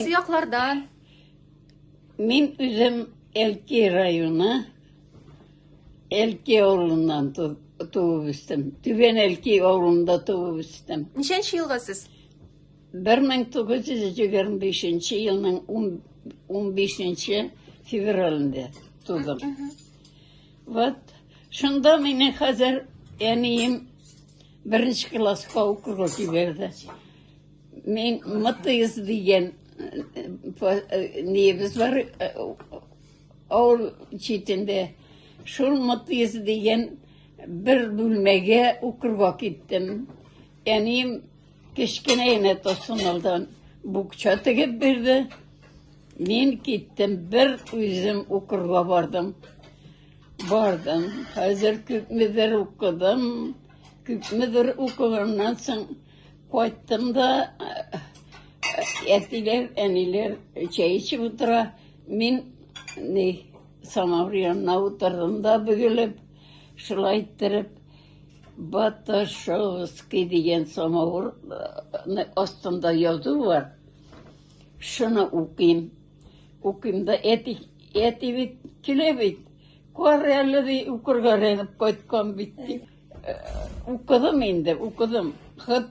Яклардан. Мин үзем Элки районы, Элки авылыннан туып үстем. Түбән Элки авылында туып үстем. Ничәнче елга сез? 1925 елның 15 февралендә тудым. Вот шунда мине хәзер әнием беренче класска укырга җибәрде. Мин Мытыйс дигән небез бар авыл читендә. Шул Мытыйс дигән бер бүлмәгә укырга киттем. Әнием кечкенә генә тосынылдан букча тегеп бирде. Мин киттем, бер үзем укырга бардым. Бардым. Хәзер күпмедер укыдым. Күпмедер укыганнан соң Кайттым да әтиләр, әниләр чәй эчеп утыра. Мин ни самавыр янына утырдым да бөгелеп, шулай иттереп Баташовский дигән самавыр астында язу бар. Шуны укыйм. Укыйм да әти, әти бит килә бит. Кар әле ди укырга рәнеп кайткан бит. Укыдым инде, укыдым. Хыт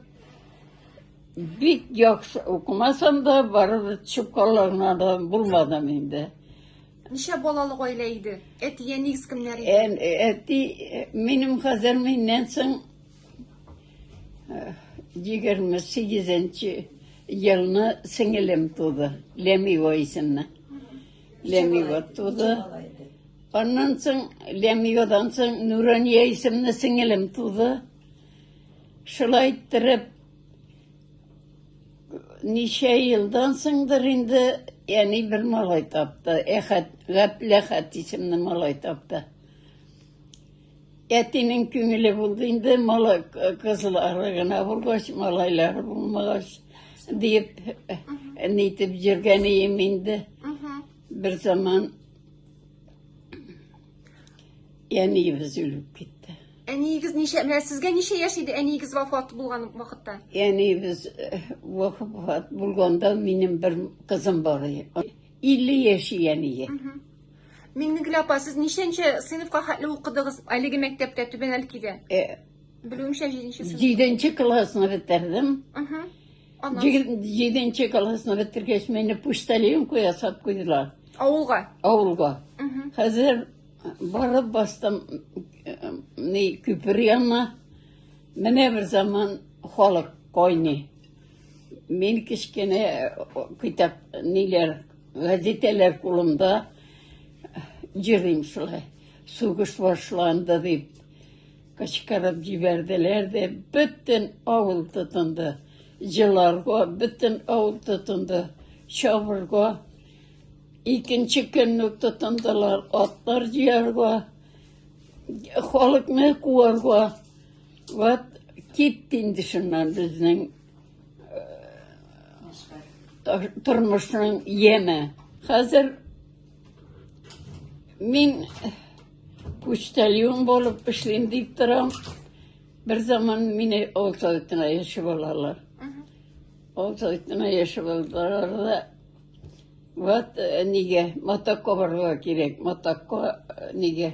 бик яхшы укымасам да, барыбер чукаларына да булмадым инде. Ничә балалы гаилә иде? Әти, әниегез кемнәр иде? Ән, әти, минем хәзер миннән соң егерме сигезенче елны сеңелем туды, Ләмива исемле. Лемиот туды. Аннан соң Лемиодан соң Нурания исемле сеңелем туды. Шулай иттереп ничә елдан соңдыр инде әни бер малай тапты. Әхәт, Гәпләхәт исемле малай тапты. Әтинең күңеле булды инде, мала кызлары гына булгач, малайлары булмагач, диеп нитеп йөргән ием инде. Бер заман әниебез үлеп китте. Әниегез ничә, менә сезгә ничә яшь иде әниегез вафат булган вакытта? Әниебез э, вафат булганда минем бер кызым бар иде. 50 яшь әние. Миңнегөл апа, сез ничәнче сыйныфка хәтле укыдыгыз әлеге мәктәптә Түбән Әлкидә? Э, Белүемчә 7 нче сыйныф. Җиденче классны бетердем. Мгм. Аннан Җиде- Җиденче классны бетергәч, мине почтальонка ясап куйдылар авылга. авылга. Мгм. Хәзер барып бастым э, ни, күпер янына. Менә бер заман халык кайный. Мин кечкенә э, китап ниләр Гәзитәләр кулымда җырлыйм шулай. Сугыш башланды дип кычкырып җибәрделәр дә, бөтен авыл тотынды. Җыларга бөтен авыл тотынды. Чабырга икенче көн үк тотындылар. Атлар җыярга, халыкны куарга. Вот китте инде шуннан безнең Тормышның яме. Хәзер мин почтальон булып эшлим дип торам. Бер заман мине Олтайтына яши балалар. Олтайтына яши балалар да вот э, нигә матакка барырга кирәк. Матакка э, нигә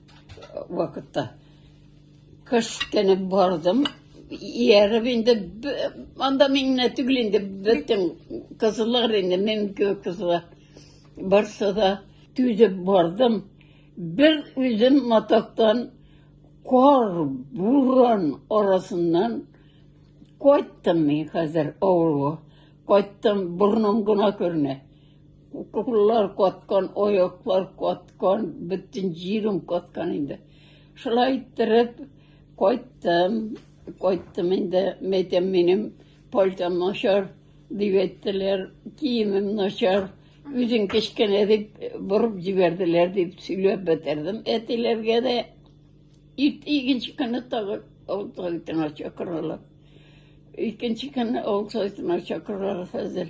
вакытта кечкенә бардым ияреп инде анда миңне түгел инде бөтен кызлар инде минем кебек кызлар барса да түзеп бардым бер үзем матактан кар буран арасыннан кайттым мин хәзер авылга кайттым борным гына күренә Уколлар каткан, аяклар каткан, бөтен җирем каткан инде. Шулай иттереп кайттым. Кайттым инде, мәйтәм минем пальтам начар дип әйттеләр, киемем начар. Үзен кечкенә дип борып җибәрделәр дип сөйләп бетердем әтиләргә дә. Ирт икенче көнне тагы аутсайтына чакыралар. Икенче көнне аутсайтына чакыралар хәзер.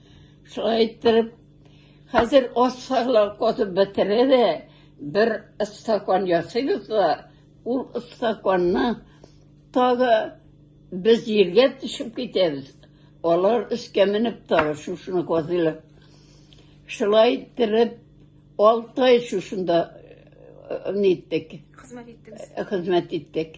Шулай иттереп, хәзер ас сайлап котып бетерә дә, бер стакан ясыйбыз да, ул стаканны тагы без җиргә төшеп китәбез. Алар өскә менеп тагы шушыны казыйлар. Шулай иттереп, алты ай шушында э, э, ниттек, хезмәт иттек.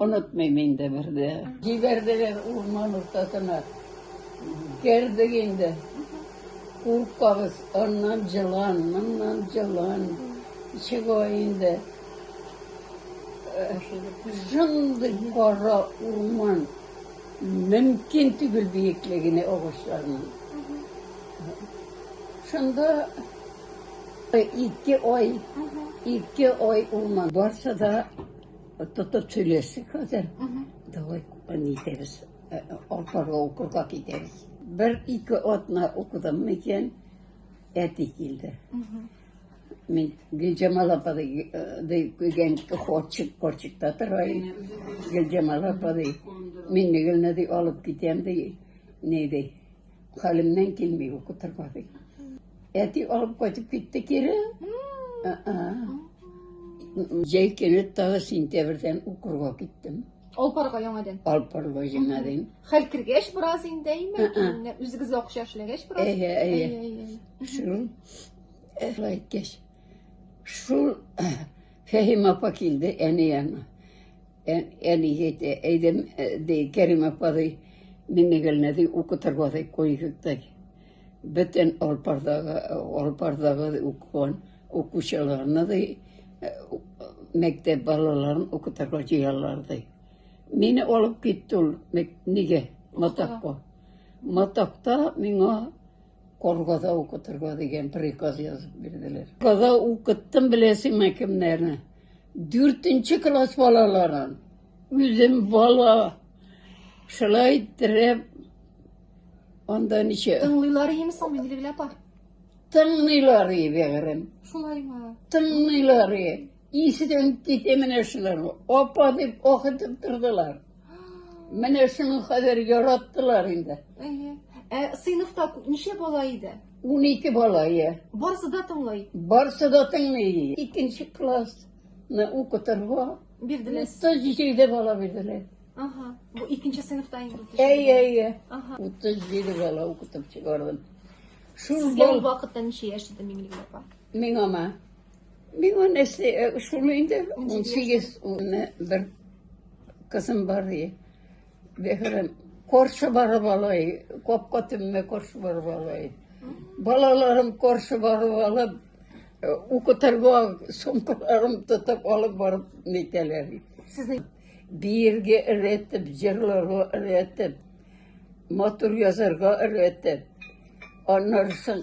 Онытмыйм инде бер дә. Җибәрделәр урман уртасына. Кердек инде. Куркабыз, аннан җылан, моннан җылан. Чыга инде. Шундый кара урман. Мөмкин түгел биеклегенә агачларның. Шунда ике ай, ике ай урман барса да Тотып сөйләшсек хәзер. Давай не итәбез. Алпарга укырга китәбез. Бер ике атна укыдым микән, әти килде. Мин Гөлҗамал апа дигән корчик, корчикта тора иде. Гөлҗамал апа ди, мин Нигелне ди алып китәм ди. Ни ди? Хәлемнән килми укытырга ди. Әти алып кайтып китте кире. Җәй көне тагы сентябрьдән укырга киттем. Алпарга яңадан. Алпарга яңадан. Хәл кергәч бераз инде, әйме? Үзегез акча эшләгәч бераз. Әйе, әйе. Шул әйткәч. Шул Фәһим апа килде әни янына. Ә, әни әйтә, әйдәм, ә, ди, Кәрим апа, ди, Миңнегелне, ди, укытырга, ди, куйыйк, ди. Бөтен Алпардагы, Алпардагы ди, укыган укучыларны, ди, ә, у- мәктәп балаларын укытырга җыялар, ди. Мине алып китте ул, мәк- нигә? Матакка. Матакта миңа Коргада укытырга дигән приказ язып бирделәр. Каза укыттым беләсеңме кемнәрне? Дүртенче класс балаларын үзем бала шулай иттереп анда ничә Тыңлыйлар име соң Миндилгөл апа? тыңлыйлар и бәгырем Шулаймы? тыңлыйлар и исіден кете менә шулар апа дип ох итеп тордылар Менә шуны хәзер яраттылар инде. Әйе. Ә сыйныфта ничә бала иде? Унике бала, иә. Барысы да тыңлый. Барысы да тыңлый. Икенче классны укытырга бирделәр. Утыз җиде бала бирделәр. Ага. Бу икенче сыйныфта инде. Әйе, әйе. Ага. Утыз җиде бала укытып чыгардым. Шул Сезгә ул вакытта ничә яшь иде, Миңлегөл апа? Миңа ма? Миңа нәрсә э, шуны инде 18 улны бер кызым бар и. Бехрем коршы барып алай, капка төбенә коршы барып алай. Балаларым коршы барып алып, э, укытырга сумкаларым тотып алып барып нитәләр. Сезнең бирге өйрәтеп, җырларга өйрәтеп, матур язарга өйрәтеп, аннары соң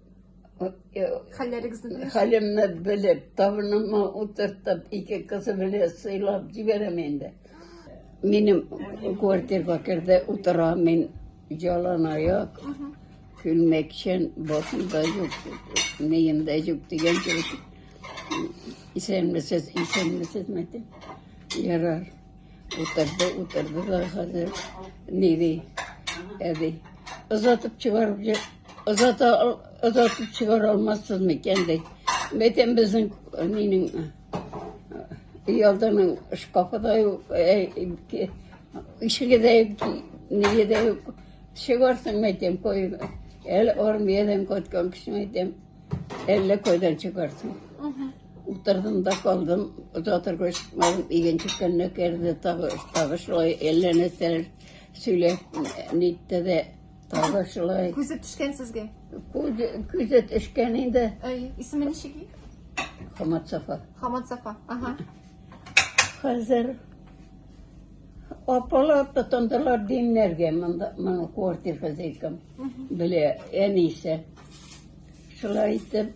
Хәлләрегезне белеп. Хәлемне белеп, табыныма утыртып, ике кызы белән сыйлап җибәрәм инде. Минем квартирга керде, утыра мин жалан аяк, күлмәкчән, башымда юк, миемдә юк дигән кебек. Исәнмесез, исәнмесез, мәтәм. Ярар. Утырды, утырды да хәзер ниди, әди. Озатып чыгарып, озата, озатып чыгара алмассыз микән ди. Бәйтәм безнең нинең ялданың шкафы да юк, ишеге дә юк, ниге дә юк. Чыгарсың мәйтәм, кой, әле армиядән кайткан кеше мәйтәм. Әллә кайдан чыгарсың. Утырдым да калдым, озак торгач чыкмадым, игенче көнне керде, тагы, тагы шулай әллә нәрсәләр сөйләп нитте дә, тагы шулай. Күзе төшкән сезгә. Күзе, күзе төшкән инде, Әй, исеме ничек? Хамат Сафа. Хамат Сафа. Ага. Хәзер апалар тотындылар димнәргә, монда, моның квартир хозяйкам, белә, әнисе. Шулай итеп,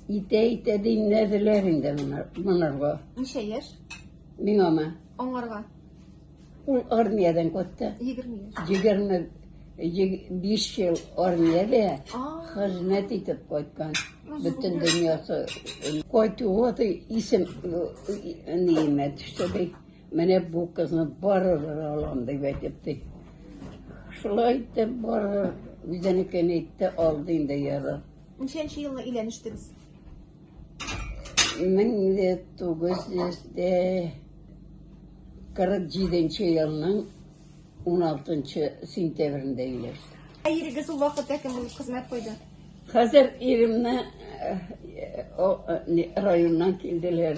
итә-итә димләделәр инде монарга. Ничә яшь? Миңамы? Аңарга. Ул армиядән кайтты. Егерме яшь. Егерме биш ел армиядә хезмәт итеп кайткан. Бөтен дөньясы. Кайтуы исем, ниемә төште, ди. Менә бу кызны барыбер алам дип әйтеп ди. Шулай итеп барыбер үзенекен әйтте, алды инде ярар. Ничәнче елны өйләнештегез? 1947 елның 16 сентябрендә өйләштек. Ә ирегез ул вакытта кем булып хезмәт куйды? Хәзер иремне э, э, о, э, не, районнан килделәр.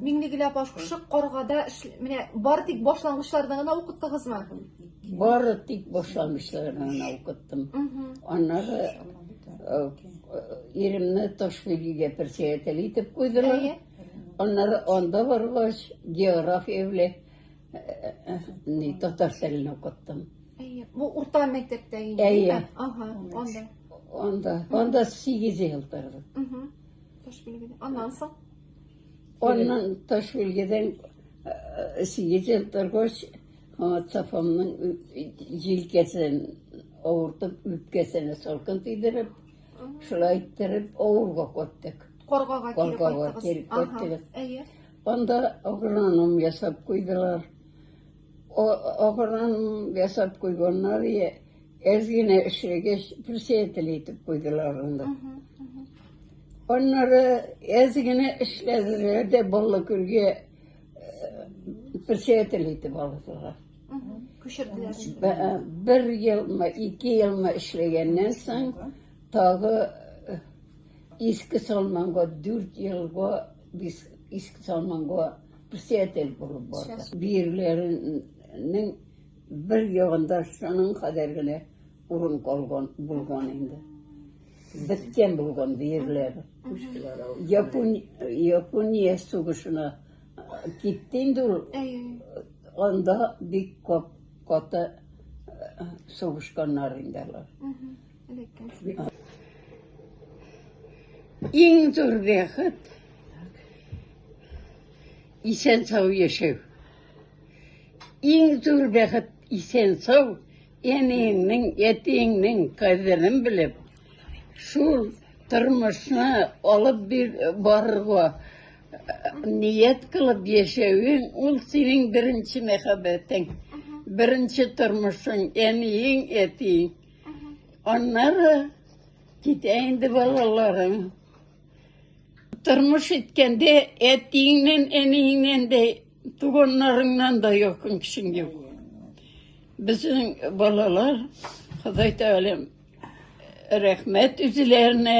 Миңнегөл апа, шушы каргада эш- менә бары тик башлангычларны гына укыттыгызмы? Бары тик башлангычларны гына укыттым. Мгм. Аннары э, э, иремне Ташбилгегә председатель итеп куйдылар. Әйе. Аннары анда баргач, география белән э, э, ни, татар телен укыттым. Әйе. Бу урта мәктәптә инде. Әйе. димме? Ага, анда. Анда, анда 8 ел тордым. Мгм. Таш билгеле. Аннан соң Аннан таш үлгедән сигез ел торгач, Сафамның җилкәсен авыртып, үпкәсенә салкын тидереп, шулай иттереп авырга каттык. Каргага кире Каргага кире кайттыгыз. Ага, кайттыгыз. Әйе. Анда агроном ясап куйдылар. О, ахырдан ясап куйганнар, я, әз генә эшләгәч, председатель итеп куйдылар анда. Аннары әз генә эшләделәр дә Баллыкүлгә э, председатель итеп алдылар. Күчерделәр. Б- э, Бер елмы, ике елмы эшләгәннән соң, тагы э, иске салманга, дүрт елга бис- иске салманга Писатель булып барды. Биерләренең бер ягында шуның кадәр генә урын калган булган инде. Беткән булган биерләр. Япония сугышына китте инде ул. Анда бик каты сугышканнар инде алар. Иң зур бәхет исән сау яшәү. Иң зур бәхет исән сау әниеңнең, әтиеңнең кадерен белеп, шул тормышны алып бир барырга ният кылып яшәвең, ул синең беренче мәхәббәтең, беренче тормышың, әниең, әтиең. Аннары китә инде балаларың. Тормыш иткәндә әтиеңнән, әниеңнән дә, туганнарыңнан да якын кешең юк. Безнең балалар, Ходай Тәгаләм, рәхмәт үзләренә.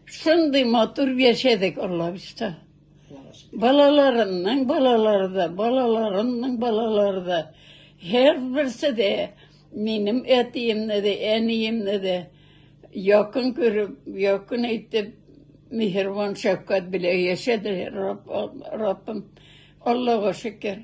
Шундый матур яшәдек, Аллабишта. Балаларының балалары да, балаларының балалары да. Һәр берсе дә минем әтиемне дә, әниемне дә якын күреп, якын итеп, миһербан шәфкать белән яшәделәр, Раббым. Аллага шөкер.